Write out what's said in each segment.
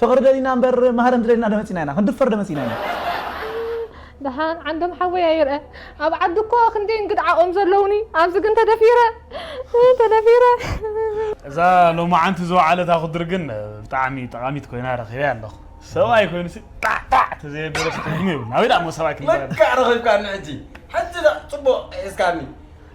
ፍቅሪ ደሊና እምበር ማህረም ዝደሊና ዶ መጺና ኢና ክንድፈር ዶ መጺና ኢና። ደሓን ዓንዶም ሓወይ ኣይርኣ ኣብ ዓዲ እኮ ክንደይ እንግድዓኦም ዘለውኒ ኣብዚ ግን ተደፊረ ተደፊረ እዛ ሎማዓንቲ ዝወዓለት ኣኹድር ግን ብጣዕሚ ጠቓሚት ኮይና ረኺበያ ኣለኹ ሰብኣይ ኮይኑ ሲ ጣዕጣዕ ተዘየበለ ትርጉም የብሉን ኣበይ ደኣ እሞ ሰብኣይ ክንበሃል ለካ ረኺብካኒ ሕጂ ሕጂ ደኣ ጽቡቕ ሒዝካኒ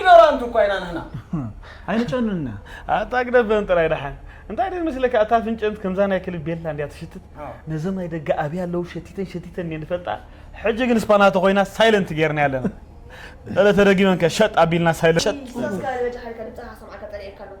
ኢኖራንት እኳ ኢና ንሕና ኣይንጨኑና ኣታ ግደበን ጥራይ ደሓን እንታይ ደስ መስለካ እታ ፍንጨንት ከምዛ ናይ ክልብ ቤላ እንዲያ ትሽትት ነዞም ናይ ደገ ኣብያ ኣለዉ ሸቲተን ሸቲተን እየ ንፈልጣ ሕጂ ግን ስፓና ተኮይና ሳይለንት ጌርና ኣለና እለ ተደጊመን ከ ሸጥ ኣቢልና ሳይለንት ሸጥ ኢሳስ ካኣ ንበጃ ሓልካ ድምጽኻ ክሰምዓካ ጸሊኤካ ኣለኹ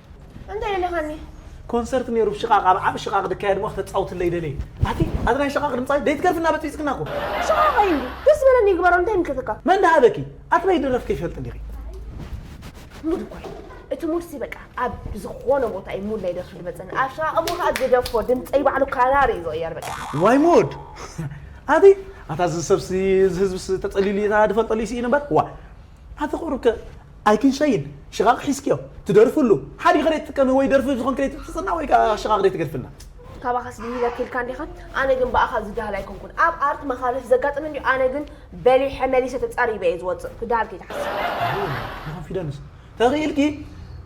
እንታይ ኢልኻኒ? ኮንሰርት ነይሩ ሽቓቕ ኣብ ዓቢ ሽቓቕ ድካየድ እሞ ክተጻውትለይ ደልየ። ኣቲ ኣዚ ናይ ሽቓቕ ድምጻይ ደይትገርፍና በጽቢጽክና እኮ። ሽቓቕ ኣዩ እንድዩ ደስ ዝበለ ንግበሮ እንታይ ይምልከተካ። መን ድሃበኪ ኣትበይ ድረፍ ከይፈልጥ እንዲኺ። ሙድ እኮ እዩ እቲ ሙድ ሲ በቃ ኣብ ዝኾነ ቦታ እዩ ሙድ ናይ ደርፊ ድመጸኒ ኣብ ሽቓቕ እሞ ከኣ ግደፎ ድምጸይ ባዕሉ ካናሪ እዩ ዝቕየር በቃ። ዋይ ሙድ ኣቲ ኣታ እዚ ሰብሲ እዚ ህዝብሲ ተጸሊሉ እዩ ድፈልጠሉ እዩ ስኢኑ እምበር ዋእ። ኣቲ ቁሩብ ከ ኣይክንሸይን ሽቓቕ ሒዝክዮ ትደርፍሉ ሓዲኺ ደይትጥቀሚ ወይ ደርፊ ዝኾንኪ ደይትሕጽጽና ወይ ከኣ ሽቓቕ ደይትገድፍልና። ካባኻስ ብሂለኪ ኢልካ እንዲኻ ኣነ ግን ብኣኻ ዝዳሃል ኣይኮንኩን ኣብ ኣርት መኻልፍ ዘጋጥም እንድዩ ኣነ ግን በሊሐ መሊሰ ተጻሪበ እየ ዝወጽእ ክዳሃል ከይትሓስብ። ንኮንፊደንስ ተኺኢልኪ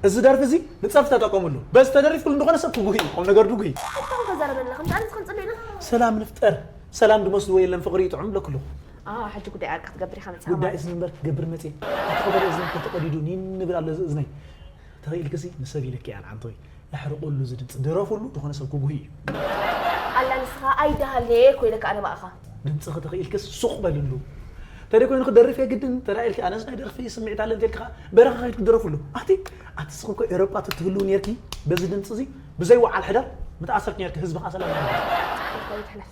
እዚ ደርፊ እዚ ንጸርፊ ተጠቀምሉ በዚ ተደሪፍክሉ ንዝኾነ ሰብ ክጉሂ እዩ ቁምነገር ድጉሂ። ኣታ እንታይ ተዛረበና ከምዚ ኣነ ንስክን ጽልኢና። ሰላም ንፍጠር ሰላም ድመስልዎ የለን ፍቅሪ እዩ ጥዑም ብለኪ ኣለኩ። ኣህ ሕጂ ጉዳይ ዕርቂ ክትገብር ኢኻ መጺኻ ጉዳይ ማለት። እዝኒ'ምበር ክገብር መጺኤ። እቲ ቀደደ እዝኒ እንተ ተቐዲዱ ኒን እብል ኣሎ እዚ እዝነይ። ትርኢ ኢልኪ'ሲ ንሰብ ኢለኪ እየ ኣንዓንቶይ። ኣሕርቐሉ እዚ ድምጺ። ድረፍሉ ዝኾነ ሰብ ክጉህይ እዩ። ኣላ ንስኻ ኣይደሃልየ እኮ ኢለካ ኣነ ብኣኻ። ድምጽኺ ተኽኢልኪስ ሱቕ በልሉ። ተደይ ኮይኑ ክደርፍ እየ ግድን እንተ ኢልኪ ኣነስ ናይ ደርፊ ስምዒት ኣለኒ እንተ ኢልኪ ከኣ በረኻ ከይድኪ ድረፍሉ። ኣቲ ኣቲ ንስኺ እኮ ኤሮጳ ተትህልዊ ኔርኪ በዚ ድምጺ እዚ ብዘይ ወዓል ሕደር ምተኣሰርኪ ኔርኪ ህዝቢ ከኣ ሰላም ምሃብኪ። ጸሓይ እኮ ኣይትሕለፍ።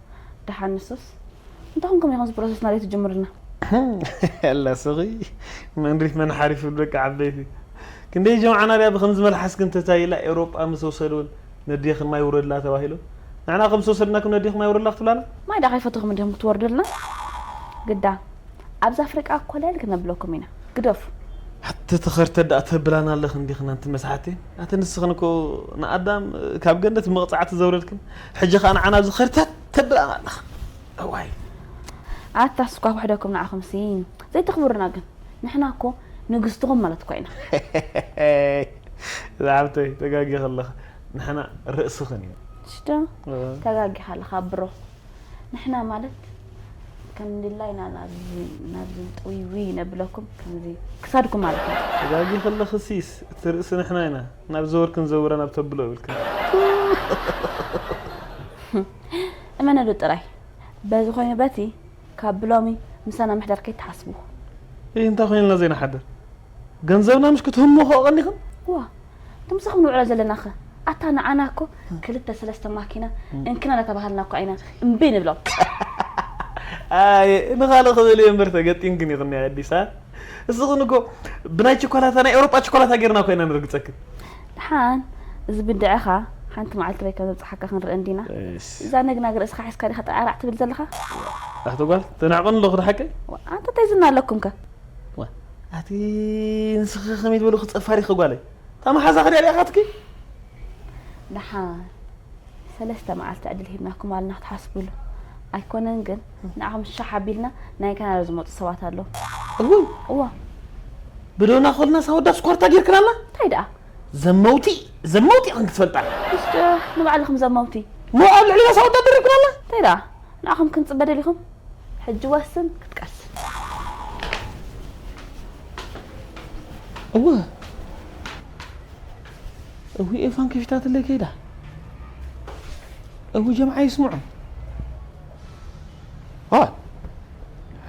ደሓን ንሱስ እንታይ ኮንኩም ኢኹም ፕሮሰስ ናደይ ትጅምርልና ኣላ ስኺ መንሪፍ መን ሓሪፉ ደቂ ዓበይቲ ክንደይ ጀምዓና ድያ ብከምዚ መልሓስክን እንታይ ኢላ ኤውሮጳ ምስ ወሰዱን ነዴኽን ማይ ውረድላ ተባሂሉ ንሕና ከም ዝተወሰድናኩም ነዴኽ ማይ ውረድላ ክትብላና ማይ ደኣ ከይፈተኹም እንዲኹም ክትወርድልና ግዳ ኣብዚ ኣፍሪቃ ኮለል ክነብለኩም ኢና ግደፉ ኣቲ ተኸርተ ደኣ ተብላና ኣለኽን ዲኽን ኣንቲ መስሓቲ ኣቲ ንስኽን እኮ ንኣዳም ካብ ገነት መቕጻዕቲ ዘውረድክን ሕጂ ከኣ ንዓና ኣብዚ ከርተት ተብለና ኣለኻ እዋይ። ኣታ ስኳ ውሕደኩም ንዓኹምሲ ዘይተኽብሩና ግን ንሕና እኮ ንግስትኹም ማለት እኳ ኢና። ዝዓብተይ ተጋጊኻ ኣለኻ ንሕና ርእስኽን ኢና። ሽዶ ተጋጊኻ ኣለኻ ብሮ ንሕና ማለት ከም ድላይና ናብዚ ናብዚ ጥውይውይ ነብለኩም ከምዚ ክሳድኩም ማለት ኢና። ተጋጊኺ ኣለኺ ሲስ እቲ ርእሲ ንሕና ኢና። ናብ ዘወርክን ዘውረ ናብ ተብሎ ይብልክን እመነሉ ጥራይ በዚ ኮይኑ በቲ ካብ ብሎሚ ምሳና ምሕደር ከይትሓስቡ ይህ እንታይ ኮይንልና ዘይንሓድር ገንዘብና ምሽ ክትህሙ ከ ቀኒኽን ዋ ትምስኹም ንውዕሎ ዘለና ኸ ኣታ ንዓና እኮ ክልተ ሰለስተ ማኪና እንክና እናተባሃልና እኳ ኢና እምቢ ንብሎም ኣየ ንኻልእ ክብል እየ እምበር ተገጢምክን ይኽኒ ኣዲሳ እዚ ግን እኮ ብናይ ቸኮላታ ናይ ኤውሮጳ ቸኮላታ ጌርና እኮ ኢና ንርግጸክን ድሓን እዚ ብድዐኻ ሓንቲ መዓልቲ ወይ ከም ዘብጽሓካ ክንርእ እንዲና እዛ ነግናግ ርእስኻ ሒዝካ ዲኻ ጠዓራዕ ትብል ዘለኻ ኣቲ ጓል ተናዕቆን ኣለኹ ድሓቂ ኣንተ እንታይ ዝና ኣለኩም ከ ኣቲ ንስኺ ከመይ ትበሉ ክጸፋሪ ኸጓለይ እታ መሓዛ ክድያ ዲኣኻትኪ ድሓን ሰለስተ መዓልቲ ዕድል ሂብናኩም ኣልና ክትሓስብሉ ኣይኮነን ግን ንዓኹም ሻሕ ኣቢልና ናይ ካናዳ ዝመጹ ሰባት ኣለዉ። እውይ እዋ ብዶና ኮልናስ ኣወዳት ስኳርታ ጌርክናላ እንታይ ደኣ ዘመውቲ ዘመውቲ ኢኽን ክትፈልጣ እሽ ዶ ንባዕልኹም ዘመውቲ ሞ ኣብ ልዕሊናስ ኣወዳት ደሪብክናላ እንታይ ደኣ ንዓኹም ክንጽበ ደሊኹም ሕጂ ዋስን ክትቀስን እወ እውይ ኤፋን ከፊታትለይ ከይዳ እውይ ጀምዓ ይስምዑ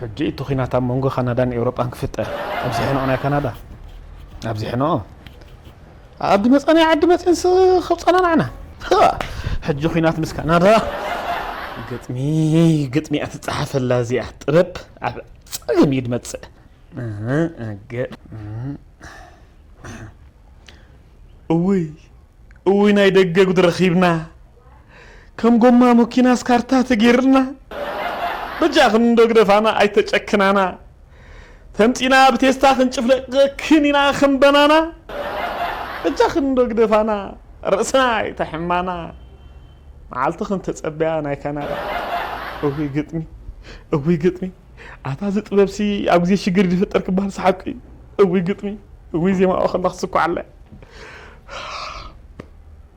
ሕጂ እቲ ኩናት ኣብ መንጎ ካናዳን ኤውሮጳን ክፍጠር ኣብዚ ሕነኦ ናይ ካናዳ ኣብዚ ሕነኦ ኣብ ድመጻናይ ዓዲ መጺንስ ከብጸናናዕና ሕጂ ኩናት ምስ ካናዳ ግጥሚ ግጥሚ እያ ትጸሓፈላ እዚኣ ጥበብ ኣብ ጸገም እዩ ድመጽእ እውይ እውይ ናይ ደገ ጉድ ረኺብና ከም ጎማ መኪናስ ካርታ ተገይርልና በጃኽን እንዶ ግደፋና ኣይተጨክናና ተምጺና ብቴስታ ክንጭፍለቀክን ኢና ከም በናና በጃኽን እንዶ ግደፋና ርእስና ኣይተሕማና መዓልቲ ክንተጸበያ ናይ ካናዳ እውይ ግጥሚ እውይ ግጥሚ ኣታ እዚ ጥበብሲ ኣብ ግዜ ሽግር ዝፍጠር ክበሃል ሰሓቂ እውይ ግጥሚ እውይ ዜማኦ ከላ ክስኩዓለ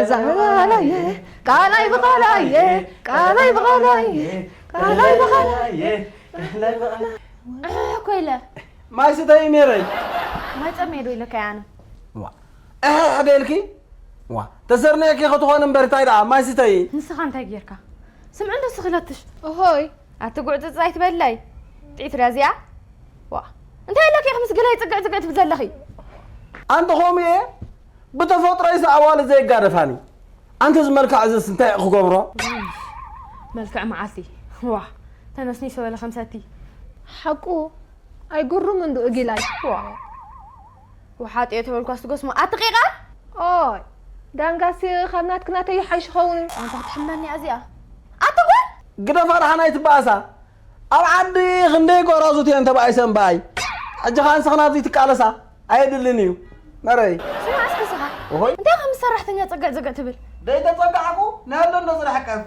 እዛ ቃላየ ቃላይ ብቃላየ ቃላይ ብቃላየ ቃላይ ብቃላየ ቃላይ ብቃላየ እኮ ኢለ ማይ ስተይ ነይረይ ማይ ፀመየ ዶ ኢለካ ኣነ እሕሕ ደልኪ ዋ ተሰርነየኪ ክትኾን እምበር እንታይ ደኣ ማይ ስተይ ንስኻ እንታይ ጌርካ ስምዕ እንዶ ስኽለትሽ እሆይ ኣቲ ጉዕፅፅ ኣይትበለይ ጥዒት ድያ እዚኣ ዋ እንታይ ኣለኪ ምስ ገላይ ፅግዕ ፅግዕ ትብል ዘለኺ ኣንተ ከምኡ እየ ብተፈጥሮይስ ኣዋልድ ዘይጋደፋኒ ኣንቲ እዚ መልክዕ እዚስ እንታይ እዩ ክገብሮ። መልክዕ መዓልቲ ዋእ ተነስኒሶ በለ ከም ሰቲ። ሓቁ ኣይጉሩም እንዱ እጊላይ። ዋእ ውሓጥዮ ተበልኳስ ትጎስሞ ኣቲ ቂቃር። ኦይ ዳንጋስ ካብ ናትኪ ናተይ ይሓይሽ ይኸውን። ኣንታ ክትሕመኒ እያ እዚኣ ኣቲ ጓል። ግደፋ ደሓን ኣይትበኣሳ ኣብ ዓዲ ክንደይ ጎራዙት እየን ተባኢሰን ባይ ሕጂ ከኣ ንስክና ኣብዙይ ትቃለሳ ኣየድልን እዩ መረይ። ስማዕ እስኪ ስኻ ኦሆይ እንታይ ኢኻ ምስ ሰራሕተኛ ጸግዕ ጸግዕ ትብል? ደይተጸጋዕኩ ንኣዶ እንዶ ዝርሕቀፍ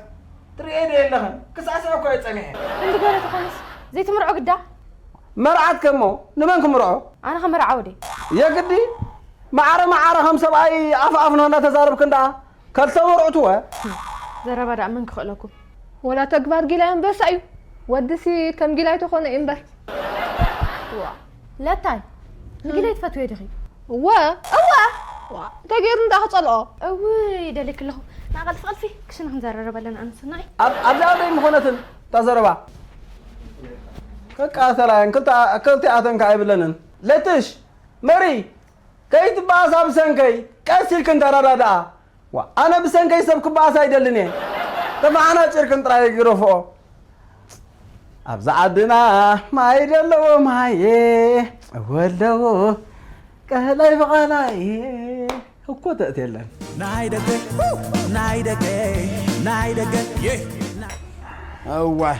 ትርእየ ዶ የለኽን ክስዕስዕ እኮ እየ ጸኒሐ። ክንዲ ገለ ተኾነስ ዘይትምርዖ ግዳ። መርዓት ከ እሞ ንመን ክምርዖ? ኣነ ከመርዓዎ ድየ? የግዲ መዓረ መዓረ ከም ሰብኣይ ኣፍ ኣፍ ንክንዳ ተዛርብክን ደኣ ከልተ መርዑት እወ። ዘረባ ደኣ መን ክኽእለኩም። ወላ ተግባር ጊላይ ኣንበሳ እዩ ወድሲ ከም ጊላይ ተኾነ እዩ እምበር። ዋእ ለታይ ንጊላይ ትፈትውዮ ዲኺ? እወ እወ ዋእ እንታይ ገይሩ እንዳ ክጸልኦ። እውይ ይደልየኪ ኣለኹ ንኣ ቐልፊ ቐልፊ ክሽነ ክንዘራረብ ኣለና ኣነ ሰናይ። ኣብ ኣብዚኣ ዶ ኣይምኾነትን እታ ዘረባ። ክቃተላ እየን ክልቲኣተን ከኣ ኣይብለንን። ለትሽ መሪ ከይትበኣሳ ብሰንከይ ቀስ ኢልክን ተረዳድኣ። ዋእ ኣነ ብሰንከይ ሰብ ክበኣስ ኣይደልን እየ ተፈሓናጪርክን ጥራይ ግረፍኦ። ኣብዛ ዓድና ማይ ደለዎ ማየ ወለዎ ቀላይ ብቓላየ እኮ ተእት የለን። ናይ ደገ ናይ ደገ ናይ ደገ እዋይ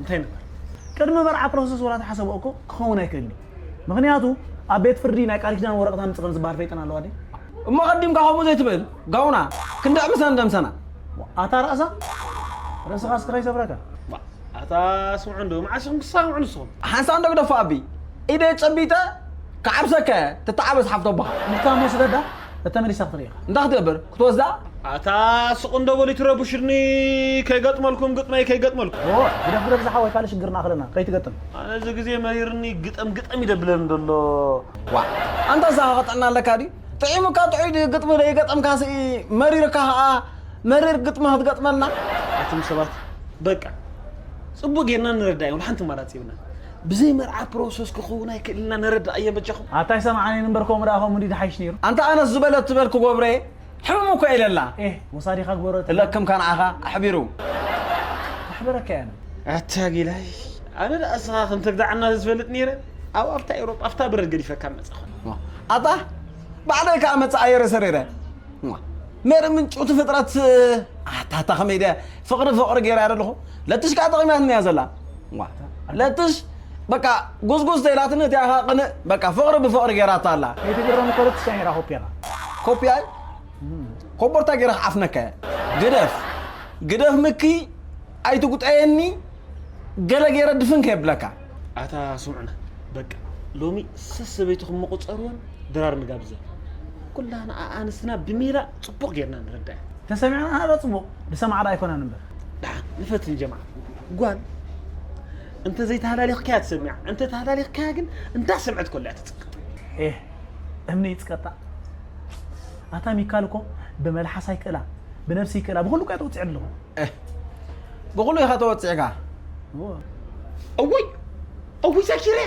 እንታይ ነበር ቅድሚ መርዓ ፕሮሰስ ወላ ተሓሰቦ እኮ ክኸውን ኣይክእልን እዩ ምክንያቱ ኣብ ቤት ፍርዲ ናይ ቃል ኪዳን ወረቀት ኣምጽ ከም ዝበሃል ፈይጠን ኣለዋ ድየ እሞ ቀዲምካ ከምኡ ዘይትብል ጋውና ክንድዕ ምሰን ደምሰና ኣታ ራእሳ ርእስኻ ስክራይ ሰብረካ ኣታ ስምዑ እንዶ መዓስ ኢኹም ክሳምዑ ንስኹም ሓንሳእ እንዶ ግደፎ ኣቢ ኢደይ ጨቢጠ ክዓብሰካ እየ ትተዓበስ ሓፍቶ ኣቦኻ እንካሞ ስደዳ እተመሊሳ ክትርእኻ እንታይ ክትገብር ክትወስዳ? ኣታ ስቕ እንዶ በሉ ኣይትረብሹኒ ከይገጥመልኩም ግጥመይ ከይገጥመልኩም። ኦህ ግደፍ ግደፍ ዝሓወይ ካልእ ሽግር ንኣኽለና ከይትገጥም። ኣነ እዚ ግዜ መሪርኒ ግጠም ግጠም እዩ ደብለኒ ደሎ። ዋእ ኣንታ ሳሆኸ ጥዕና ኣለካ ድዩ ጥዒሙካ ጥዑይ ድዩ ግጥሚ ደይገጠምካ ሲ መሪርካ ከኣ መሪር ግጥሚ ክትገጥመልና። ኣቱም ሰባት በቃ ጽቡቅ ጌርና ንረዳእ ወላ ሓንቲ ኣማራጺ የብልናን ብዘይ መርዓ ፕሮሰስ ክኽውን ኣይክእልን እና ነረድኣዬም በጃኹም። ኣታ ኣይሰማዓንየን እምበር ከምኡ ደኣ ከምኡ እንድዩ ዝሓይሽ ነይሩ። ኣንታ ኣነስ ዝበለት ትበል ክጎብረየ ሕምም እኮ ኢለ ኣላ። ኤህ ወሳዲካ ግበሮ እለ ክም ካንዓካ ኣሕቢሩ። ከሕብረካ እየ ኣነ። ኣታ ጊላይ ኣነ ደኣ እስኻ ከም ተግዳዓና ተዝፈልጥ ነይረ ኣብ ኣፍታ ኤውሮጳ ኣፍታ በረድ ገዲፈካ ምመጻኹ። ኣታ ባዕለይ ከኣ መጸኣየረ ሰሪረ ሜሪ ምንጭውቲ ፍጥረት ኣታ ኣታ ከመይ ድየ ፍቅሪ ፍቅሪ ገይራያ ደለኹ ለትሽ ከኣ ጠቂማትኒ እያ ዘላ። እዋ ለትሽ በቃ ጉስጉስ ተይላትኒ እቲኣ ኸኣ ቅንእ በቃ ፍቕሪ ብፍቕሪ ገይራታ ኣላ ከይትግረም እኮ ለትሽ ኣሚራ ኮፒ ኣላ ኮፒ ኣይ ኮቦርታ ገይረ ክዓፍነካ እየ ግደፍ ግደፍ ምኪ ኣይትጉጠየኒ ገለ ገይረ ድፍን ከየብለካ ኣታ ስምዑና በቃ ሎሚ ሰሰበይትኹም ምቑፀርዎን ድራር ንጋብዘ ኩላና ኣንስትና ብሜላ ፅቡቕ ጌርና ንረዳእ ተሰሚዕና ሃሎ ፅቡቕ ንሰማዕዶ ኣይኮናን እምበር ደሓን ንፈትን ጀማዓ ጓል እንተ ዘይተሃላሊኽካያ ትሰምዕ እንተ ተሃላሊኽካያ ግን እንዳሰምዐት ኮላያ ትፅቅጥ ኤህ እምኒ ይፅቀጣ ኣታ ሚካል እኮ ብመልሓሳ ይክእላ ብነብሲ ይክእላ ብኩሉ እኳ ተወፂዐ ኣለኹ ብኩሉ ኢኻ ተወፂዕካ እወይ እውይ ዛኪርያ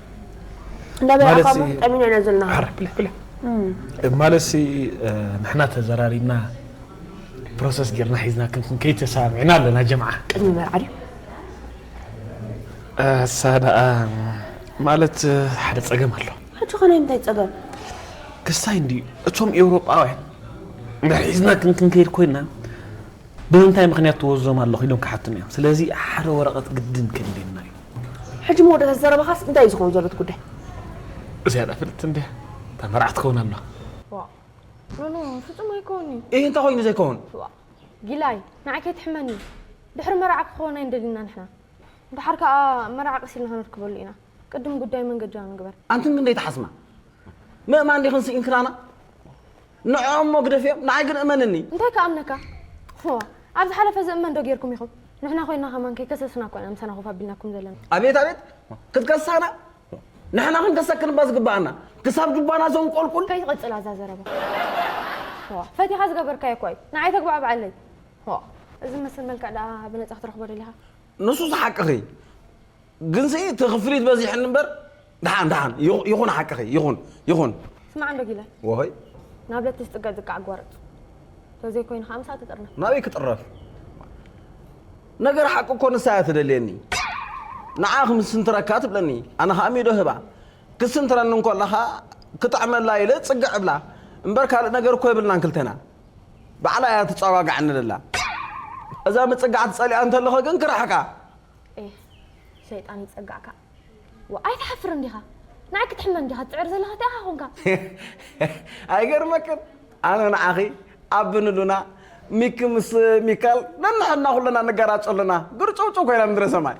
ማለት ሲ ንሕና ተዘራሪብና ፕሮሰስ ጌርና ሒዝና ክንክን ከይተሰማሚዕና ኣለና ጀምዓ ቅድሚ መርዓ ድዩ እሳ ደኣ ማለት ሓደ ፀገም ኣሎ ሕጂ ኸነ እንታይ ፀገም ክስታይ እንድዩ እቶም ኤውሮጳውያን ንሒዝና ክንክንከይድ ኮይና ብምንታይ ምኽንያት ትወዞም ኣለኹ ኢሎም ክሓቱና እዮም ስለዚ ሓደ ወረቐት ግድን ከድልየና እዩ። ሕጂ መወዳእታ ዘረባኻስ እንታይ እዩ ዝኸውን ዘሎ እቲ ጉዳይ? ዝያዳ ፍልጥቲ እንድያ እታ መርዓት ትኸውን ኣላ። ዋእ ኖኖ ፍጹም ኣይኮን እዩ። እይ እንታይ ኮይኑ ዘይከውን። ዋእ ጊላይ ንዓይ ከይትሕመኒ ድሕሪ መርዓ ክኸውን ኣይንደልይና ንሕና ድሓር ከኣ መርዓ ቀስ ኢልና ክንርክበሉ ኢና። ቅድም ጉዳይ መንገጃ ንግበር። ኣንትን ክንደይ ተሓስማ ምእማን ዲኽን ስኢንክናና ንዕኦም እሞ ግደፍዮም ንዓይ ግን እመንኒ። እንታይ ክኣምነካ ፎ ኣብ ዝሓለፈ ዝእመን ዶ ጌርኩም ኢኹም ንሕና ኮይና ከማን ከይከሰስና እኮ ኢና ምሳና ኮፍ ኣቢልናኩም ዘለና። ኣቤት ኣቤት ክትከሳና ንሕና ክንከሰክን እባ ዝግባኣና ክሳብ ጁባና ዘንቆልቁል ከይትቕጽል ኣዛ ዘረባ ዋ ፈቲኻ ዝገበርካዮ እኳ እዩ ንዓይ ተግባዕብዓለይ ዋ እዚ መስል መልክዕ ደኣ ብነጻ ክትረኽቦ ደሊኻ ንሱ ዝሓቅኺ ግንሲ እቲ ክፍሊት በዚሕኒ እምበር ደሓን ደሓን ይኹ- ይኹን ሓቅኺ ይኹን ይኹን ስማዕ እንዶ ጊለ ወሆይ ናብ ለትስ ጥገ ዝቃዕ ኣጓርፅ ተዘይኮይኑ ከዓ ምሳእ ትጥርነፍ ናበይ ክጥረፍ ነገር ሓቂ እኮ ንሳ እያ ትደልየኒ ንዓ ክምስንትረካ ትብለኒ ኣነ ከዓ ሚዶ ህባ ክትስንትረኒ እንከላ ከዓ ክጥዕመላ ኢለ ፅግዕ እብላ እምበር ካልእ ነገር እኮ የብልናን ክልተና ባዕላ እያ ትፀጓጋዕኒ ደላ እዛ ምፅጋዕቲ ፀሊኣ እንተለኹ ግን ክርሕቃ ኤህ ሸይጣን ይጸጋዕካ ዋእ ኣይትሓፍርን ዲኻ ንዓይ ክትሕመን ዲኻ ትጽዕር ዘለኻ እቲኣኻ ኮንካ። ኣይገርመክን ኣነ ንዓኺ ኣቢ ንሉና ሚኪ ምስ ሚካል ነንሕድና ኩልና ንገራጮ ኣለና ግርጭውጭው ኮይና ምድረ ሰማይ።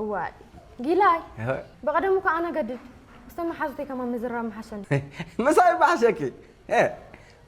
እዋይ ጊላይ ብቐደሙ እኳ ኣነ ገድድ ምስ ቶም መሓዙተይ ከማን ምዝራብ ምሓሸኒ። ምሳይ ባሕሸኪ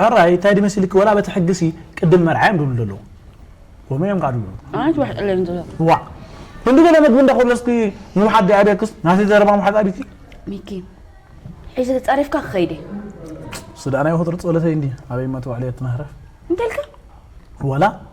ሕራይ ታይ ድዩ መሲልኪ ወላ በቲ ሕጊሲ ቅድም መርዓ እዮም ድብሉ ዘለዉ ከምኡ እዮም ከዓ ድብሉ ኣነስ ዋሕ ጥለኒ ዘሎ ዋዕ ክንዲ ገለ መግቢ እንዳኮለስኪ ምውሓጥ ድኣ ድክስ ናተይ ዘረባ ምውሓጥ ኣቢኪ ሚኪ ሒዚ ተፃሪፍካ ክኸይድ እዩ ስዳናይ ወትሩ ጸሎተይ እንዲ ኣበይ እማ ተባዕለየት ናህረፍ እንታይ ኢልካ ዋላ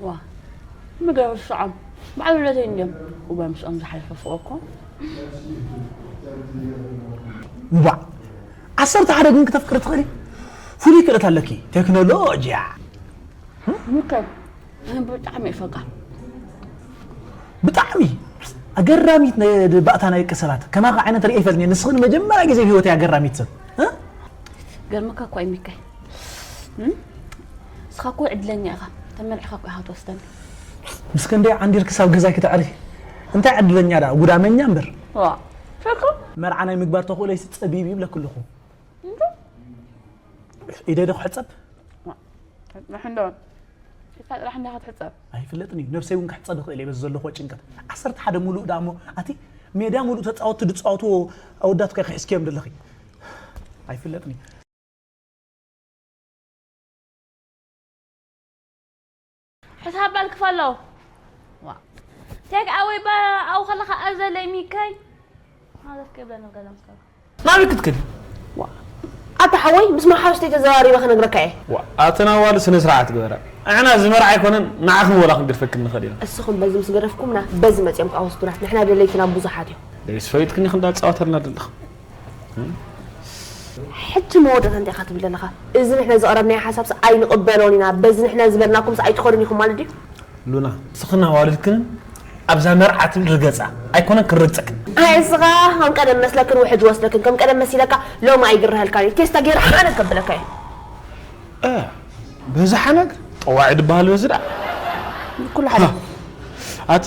ዋ ምድረ ርስዖም በዓል ውለደይ እንድዮም እወ ምስኦም ዝሓለፈ ፍቅሪ እኮ እንቧዕ ዓሰርተ ሓደ ግን ክተፍቅሪ ትኽእሊ ፍሉይ ክእለት ኣለኪ ቴክኖሎጂያ ምከር ኣነ ብጣዕሚ ይፈቃ ብጣዕሚ ኣገራሚት ነ- ባእታ ናይ ደቂ ሰባት ከማኻ ዓይነት ርእየ ይፈልጥ እየ። ንስኺ ንመጀመርያ ግዜ ኣብ ሂወተይ ኣገራሚት ሰብ እ? ገርምካ እኳ እዩ ሚካኤል ንስኻ እኮ ዕድለኛ ኢኻ ተመርዕኻ እኮ ኢኻ ትወስደኒ ምስ ክንደይ ዓንዲር ክሳብ ገዛይ ክተዕሪ እንታይ ዕድለኛ ደኣ ጉዳመኛ እምበር ዋ ፈርኩ መርዓ ናይ ምግባር ተኽእሎይሲ ጸቢብ እዩ ይብለኪ ኣለኹ ኢደይ ዶ ክሕጸብ ንሕንዶ ኢድካ ጥራሕ እንዳ ክትሕጸብ ኣይፍለጥን እዩ ነብሰይ እውን ክሕጸብ ይኽእል እየ በዚ ዘለኹዎ ጭንቀት ዓሰርተ ሓደ ሙሉእ ደኣ እሞ ኣቲ ሜዳ ሙሉእ ተጻወትቲ ዝጻወትዎ ኣወዳት ከ ክሕዝክዮም ደለኺ ኣይፍለጥን እዩ ሕሳብ ባል ክፈሎ ዋ ቴክ ኣወይ ባ ኣው ከለካ ኣዘለይ ሚከይ ማለት ከብለ ነው ገለም ሰው ናበይ ክትክድ ኣታ ሓወይ ምስ መሓውስተይ ተዘራሪበ ክነግረካ እየ ኣተን ኣዋል ስነ ስርዓት ግበራ ንሕና እዚ መርዓ ኣይኮነን ንዓኽን ወላ ክንግድፈክን ንኽእል ኢና እስኹም በዚ ምስ ገደፍኩምና በዚ መፅኦም ከዓ ወስዱና ንሕና ደለይትና ብዙሓት እዮም ደይስ ፈሊጥክኒ ክንዳ ትፃወተልና ደለኻ ሕጂ መወዳእታ እንታይ ኢኻ ትብል ዘለኻ? እዚ ንሕና ዘቕረብናዮ ሓሳብሲ ኣይንቕበሎን ኢና፣ በዚ ንሕና ዝበልናኩምሲ ኣይትኸዱን ኢኹም ማለት ድዩ? ሉና ንስኽን ኣዋልድክንን ኣብዛ መርዓ ትብል ርገጻ፣ ኣይኮነን ክንርግጸክን። ኣየ እስኻ ከም ቀደም መስለክን ውሕጅ ወስደክን፣ ከም ቀደም መሲለካ ሎሚ ኣይግረሀልካን እዩ፣ ቴስታ ገይረ ሓነግ ከብለካ እየ። ኣያ በዚ ሓነግ ጠዋዒ ድበሃል በዚ ደኣ ኩሉ ሓደ ኣቲ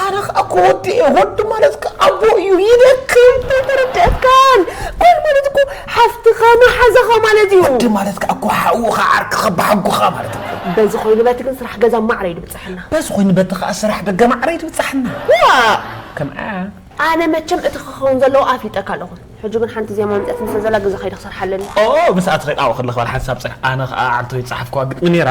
ኣረ ከኣ ክወድእ ወዲ ማለት ከ ኣቦ እዩ ይደክም ታይ ተረድኣትካን ጓል ማለት እኮ ሓፍትኻ መሓዛኻ ማለት እዩ ወዲ ማለት ከኣ እኮ ሓውኻ ዓርክኻ ብሓጉኻ ማለት እዩ በዚ ኮይኑ በቲ ግን ስራሕ ገዛ ማዕረ ይድብጽሐና በዚ ኮይኑ በቲ ከኣ ስራሕ ደገ ማዕረ ይድብጽሐና ዋእ ከምኣ ኣነ መቸም እቲ ክኸውን ዘለዎ ኣፍሊጠካ ኣለኹ ሕጂ ግን ሓንቲ ዜማ መምጽኣትኒ ስለ ዘላ ግዜ ከይደ ክሰርሓ ኣለኒ ኦ ምስኣ ተኺል ኣወ ክለኽባል ሓንሳብ ጽናሕ ኣነ ከኣ ዓንተወይ ዝጸሓፍክዋ ግጥሚ ኔራ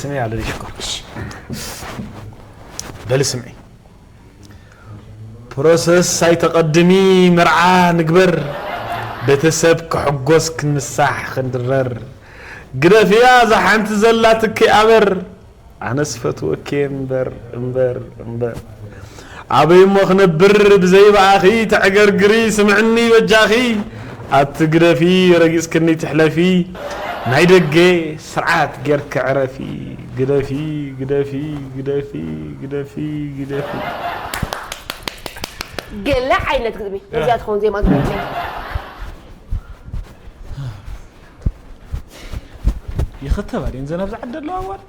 ስሚ ኣለኒ ሽኮር በሊ ስምዒ ፕሮሰስ ኣይተቐድሚ መርዓ ንግበር ቤተሰብ ክሕጎስ ክንሳሕ ክንድረር ግደፍያ እዛ ሓንቲ ዘላትኪ ኣበር ኣነስ ፈትወኪ እምበር እምበር እምበር ኣበይ እሞ ክነብር ብዘይ ብኣኺ ተዕገርግሪ ስምዕኒ በጃኺ ኣቲ ግደፊ ረጊጽክኒ ትሕለፊ ናይ ደገ ስርዓት ጌርኪ ዕረፊ ግደፊ ግደፊ ግደፊ ግደፊ ግደፊ ገለ ዓይነት ግጥሚ ነዚኣ ትኸውን ዜማ ዝመፅእ ይኽተባ ድየን ዘን ኣብዚ ዓዲ ኣለዋ ኣዋልድ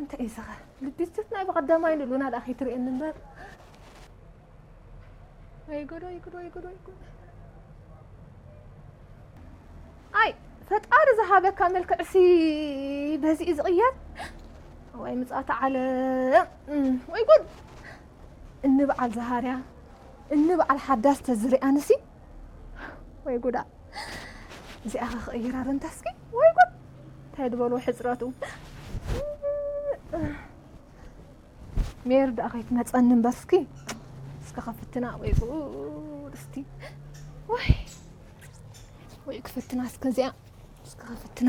እንታይ እዩ ዝኸ ልቢስት ናይ ብቐዳማይ ንሉና ዳ ከይትርእየኒ እምበር ወይ ጉድ ወይ ጉድ ወይ ጉድ ወይ ጉድ ኣይ ፈጣሪ ዝሃበካ መልክዕሲ በዚ እዩ ዝቕየር ወይ ምፅኣት ዓለም ወይ ጉድ እኒ በዓል ዝሃርያ እኒ በዓል ሓዳስ ተዝርኣንሲ ወይ ጉዳ እዚኣ ክቕይራ ረንታስኪ ወይ ጉድ እንታይ ዝበልዎ ሕፅረቱ ሜር ደኣ ከይትመፀኒ እምበር እስኪ እስከ ከፍትና ወይ ጉድ እስቲ ወይ ወይ ክፍትና እስከ እዚኣ እስከ ከፍትና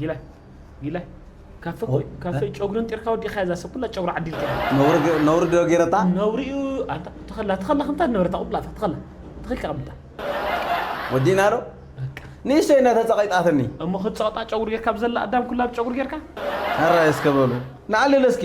ጊላይ ጊላይ ካፈ ካፈ ጨጉርን ጢርካ ወዲኻ እዛ ሰብ ኩላ ጨጉሪ ዓዲልካ ነውሪ ነውሪ ዶ ገረታ ነውሪኡ ኣንታ ተኸላ ተኸላ ከምታ ነበረታ ቁብላታ ተኸላ ተኸልካ ቀምጣ ወዲና ዶ ንእሽቶ ኢና ተጸቂጣትኒ እሞ ክትጸቕጣ ጨጉሪ ጌርካ ብዘላ ኣዳም ኩላ ብጨጉሪ ጌርካ ኣራ እስከ በሉ ንዓልል እስኪ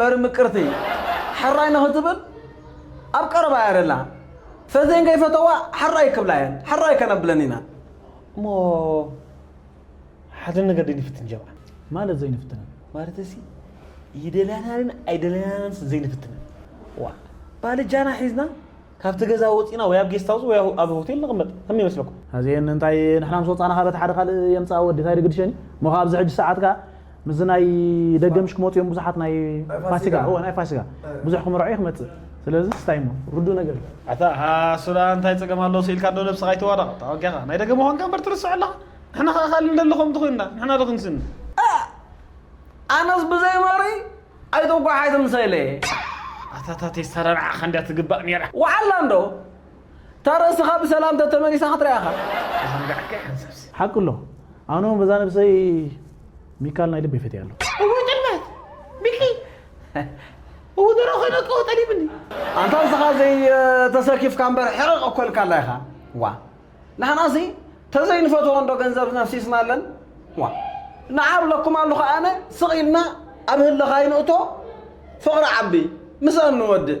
መሪ ምቅርቲ ሕራይ ንኽትብል ኣብ ቀረባ እያ ደላ ፈዜን ከይፈተዋ ሕራይ ክብላ እየን ሕራይ ከነብለን ኢና እሞ ሓደ ነገር ዘይንፍትን ጀብዓ ማለት ዘይንፍትነ ማለት እሲ ይደልያናንን ኣይደልያናንስ ዘይንፍትነ ዋ ባልጃና ሒዝና ካብቲ ገዛ ወፂና ወይ ኣብ ጌስት ሃውስ ወይ ኣብ ሆቴል ንቕመጥ ከም ይመስለኩም ኣዚአን እንታይ ንሕና ምስ ወፃና ካበት ሓደ ካልእ የምፅኣ ወዲ እንታይ ድግድሸኒ እሞ ካብ ኣብዚ ሕጂ ሰዓት ከዓ ምስዚ ናይ ደገምሽ ክመጹ እዮም ብዙሓት ናይ ፋሲጋ እወ ናይ ፋሲጋ ብዙሕ ክምርዖ እዩ ክመጽእ ስለዚ ስታይ እሞ ርዱእ ነገር እዩ ኣታ ሃሱላ እንታይ ጸገም ኣለዎ ስኢልካ ዶ ነብስኻ ኣይተዋረቕ ተዋጊኻ ናይ ደገም ምዃንካ እምበር ትርስዕ ኣለኻ ንሕና ከኣ ካልእ ንደሊ ከምቲ ኮይንና ንሕና ዶ ክንስኒ ኣነስ ብዘይ መሪ ኣይተጓዓዝን ሰሌ። ኣታታ ቴስታራ ንዓኻ እንድያ ትግባእ ኔራ። ወዓላ እንዶ እታ ርእስኻ ብሰላም ተተመሊሳ ክትሪኣ ኢኻ። ተዘንጋዕካ ኢኻ ሰብሲ። ሓቂ ኣሎ ኣነ ውን በዛ ነብሰይ ሚካል ናይ ልበይ ፈትያ ኣለኹ። እወ ጥልመት ሚኪ እወ ደሮ ኮይነ እኮ ጠሊምኒ። ኣንታ ንስኻ ዘይ ተሰኪፍካ እምበር ሕቕቕ እኮ ኢልካላ ኢኻ ዋእ ንሕናሲ ተዘይንፈትዎ እንዶ ገንዘብ ነፍሲስና ኣለን ዋእ ንዓብ ለኩም ኣሉኻ ኣነ ስቕ ኢልና ኣብ ህልኻ ይንእቶ ፍቕሪ ዓቢ ምስኣን ንወድእ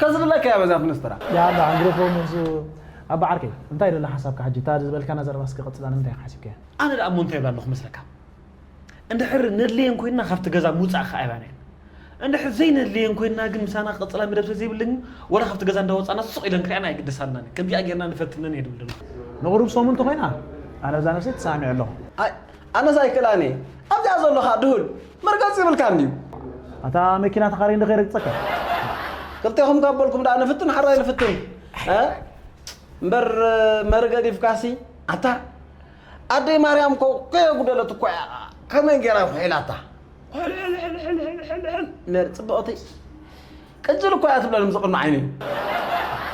ከዝብለካ እያ በዛ ፍንስትራ። ያላ ዕንግርፎ ምሱ ኣባ ዓርከይ እንታይ ዶ ኣላ ሓሳብካ ሕጂ እታ ዝበልካና ዘረባ እስከ ቀጽላ ንምንታይ ኢካ ሓሲብካያ። ኣነ ደኣ እሞ እንታይ ይብል ኣለኹ መስለካ እንድሕር ነድልየን ኮይንና ካብቲ ገዛ ምውጻእ ከኣ ይብላና እየን እንድሕር ዘይነድልየን ኮይንና ግን ምሳና ክቅጽላ መደብ ስለ ዘይብለን ግን ወላ ካብቲ ገዛ እንዳ ወጻና ሱቅ ኢለን ክርእያና ኣይግደሳልናን እየን ከምዚኣ ጌርና ንፈትነን እየ ድብል ደለኹ። ንቁሩብ ሰሙን እንተ ኮይና ኣነ በዛ ነብሰይ ተሳዕሚዐ ኣለኹ። ኣይ ኣነስ ኣይክእላን እየ ኣብዚኣ ዘሎ ከኣ ድሁል። መርገጺ የብልካን ድዩ? ኣታ መኪና ተኻርይ እንዶ ከይረግጸካ። ክልቴኹም ካብ በልኩም ደኣ ንፍትን ሓራይ ንፍትን እ እምበር መሪ ገዲፍካሲ ኣታ ኣደይ ማርያም እኮ ከየጉደለት እኮ እያ ከመይ ገይራ ኩሒላታ ሕልሕልሕልሕልሕልሕል መሪ ጽብቕቲ ቅጅል እኳ እያ ትብለኒ ምስ ቕድሚ ዓይነይ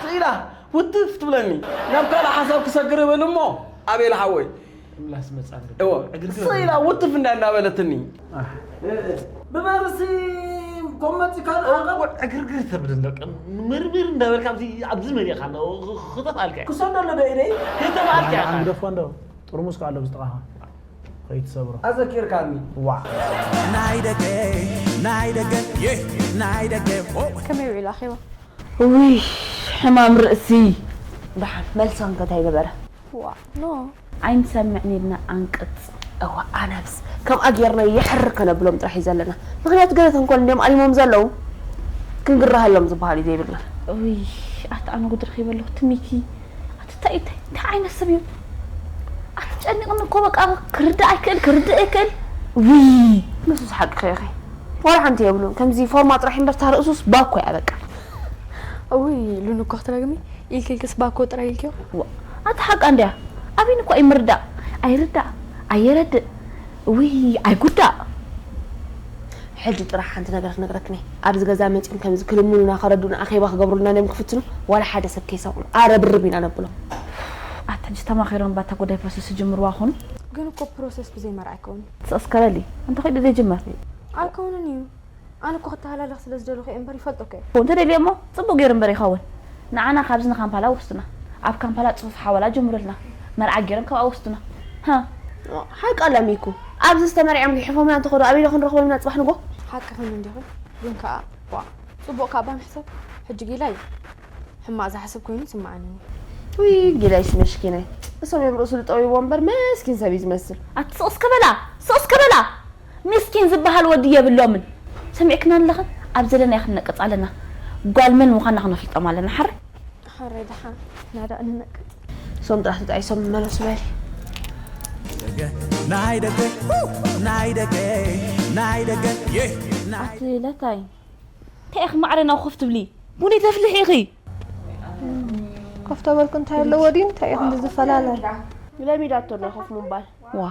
ስእ ኢላ ውትፍ ትብለኒ ናብ ካልእ ሓሳብ ክሰግር እብል እሞ ኣቤል ሓወይ ምላስ መጻ እወ ስእ ኢላ ውትፍ እንዳ እንዳበለትኒ ብበርሲ ኮመቲ ካልኣ ወ- ዕግርግር ተብልን በቃ ምርምር እንዳበልካ ኣብዚ ኣብዚ መሪእኻ ኣሎ ክተፍኣልካ እየ ክሰደሉ ዶ ኢደይ ክተፍኣልካ እየ ኣንግደፎ እንዶ ጥርሙስ ከ ኣሎ ብዝጥቓኻ ኸይትሰብሮ ኣዘኪርካኒ ዋእ። ከመይ ውዒሉ ኣኼባ? ውይ ሕማም ርእሲ ደሓን መልሲ ከ እንታይ ነበረ? ዋእ ን ኣይንሰምዕን ኢልና ኣንቅጽ። እወ ኣነስ ከምኣ ጌርና የሕርር ከነብሎም ጥራሕ እዩ ዘለና ምክንያቱ ገለ ተንኮል እንድዮም ኣሊሞም ዘለዉ ክንግረሃሎም ዝበሃል እዩ ዘይብልና። እውይ ኣታ ኣነ ጉድ ረኪበ ኣለኩ ትሚኪ። ታይ ታይ እንታይ ዓይነት ስብ እዩ ኣትጨንቅኒ እኮ በቃ ክርዳእ ኣይክእል ክርድእ ኣይክእል ውይ። ንሱስ ሓቅኺ ኢኺ ዋላ ሓንቲ የብሉን ከምዚ ፎርማ ጥራሕ እምበር እታ ርእሱስ ባኮ እያ በቃ። እውይ ሉሉ እኮ ክትረግሚ ኢልኪ ኢልክስ ባኮ ጥራይ ኢልክዮ። ዋእ ኣታ ሓቃ እንድያ ኣቢኒ እኳ ኣይምርዳእ ኣይርዳእ ኣየረድእ እውይ ኣይጉዳእ። ሕጂ ጥራሕ ሓንቲ ነገር ክነግረክን እየ። ኣብዚ ገዛ መጺኦም ከምዚ ክልምኑና ከረድኡና ኣኼባ ክገብሩልና ድዮም ክፍትኑ ዋላ ሓደ ሰብ ከይሰምዑ ኣረብርብ ኢና ነብሎም። ኡፍ ኣታ ሕጂ ተማኺሮም እባ እታ ጉዳይ ፕሮሰስ ዝጅምርዋ ክኾኑ። ግን እኮ ፕሮሰስ ብዘይ መርዓ ኣይከውንን። ስቅስቅ በሊ እንተ ኺዱ ዘይጅመር። ኣይከውንን ኢዩ ኣነ እኮ ክተሃላለኽ ስለ ዝደለኹ ኢየ እምበር ይፈልጦ እኮ ኢየ። እንተ ደልዮሞ ጽቡቅ ጌሩ እምበር ይኸውን ንዓና ካብዚ ንካምፓላ ወስዱና ኣብ ካምፓላ ጽፉፍ ሓወላ ጀምሩልና መርዓ ጌሮም ካብኣ ወስዱና ሃ። ሓቂ ኣላ ሚኩ ኣብዚ ዝተመርዕዮም ጊሕፎምና እንተኸዱ ኣበይ ዶ ክንረኽቦም ኢና ጽባሕ ንጎ። ሓቂ ኮይኑ እንዲኹ ግን ከኣ ዋእ ጽቡቅ ካባ ንሕሰብ ሕጂ ጊላ ዩ ሕማቅ ዝሓስብ ኮይኑ ይስመዓኒ እኔ። ውይ ጊላይሲ መሽኪናይ እሶም እዮም ርእሱ ዝጠውይዎ እምበር መስኪን ሰብ እዩ ዝመስል። ኣቲ ስቅ እስከ በላ ስቅ እስከ በላ። ምስኪን ዝባሃል ወዲ የብሎምን ሰሚዕክና ኣለኽን ኣብ ዘለናዮ ክንነቅጽ ኣለና ጓል መን ምዃና ክነፍልጦም ኣለና ሓር ሓረይ ድሓን ናዳእ ንነቅጽ። ሶም ጥራሕ ተጣይሶም መለሱ በሊ። ናይ ደገ ናይ ደገ ናይ ደገ ኣቲ ለታይ እንታይ ኢኺ ማዕረ ናብ ኮፍ ትብሊ ቡኒ ተፍልሒ ኢኺ ኮፍ ተበልኩ እንታይ ኣለዎ ድዩ እንታይ ኢኹ ዝፈላለ ለሚዳቶ ዶ ኮፍ ምባል ዋ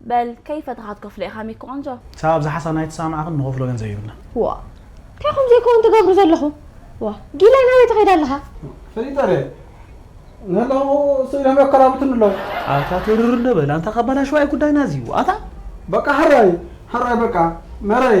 በል ከይ ፈተኻ ትከፍሎ ኢኻ ሚኪ ቆንጆ። ሳባ ኣብዛ ሓሳብና ኣይተሰማማዕክን ንኸፍሎ ገንዘብ የብልናን። ዋእ ታይ ከምዙይ ክውን ትገብሩ ዘለኹም ዋእ ጊላይ ናበይ ትኸይድ ኣለኻ። ፈሊጠ ድየ ንህላወ ስኢኖም የከራብቱኒ ኣለዉ። ኣታ ትርር እንዶ በል ኣንታ ካባላሽዋ እዩ ጉዳይና እዚ ዋእ ኣታ። በቃ ሕራይ ሕራይ በቃ መረይ።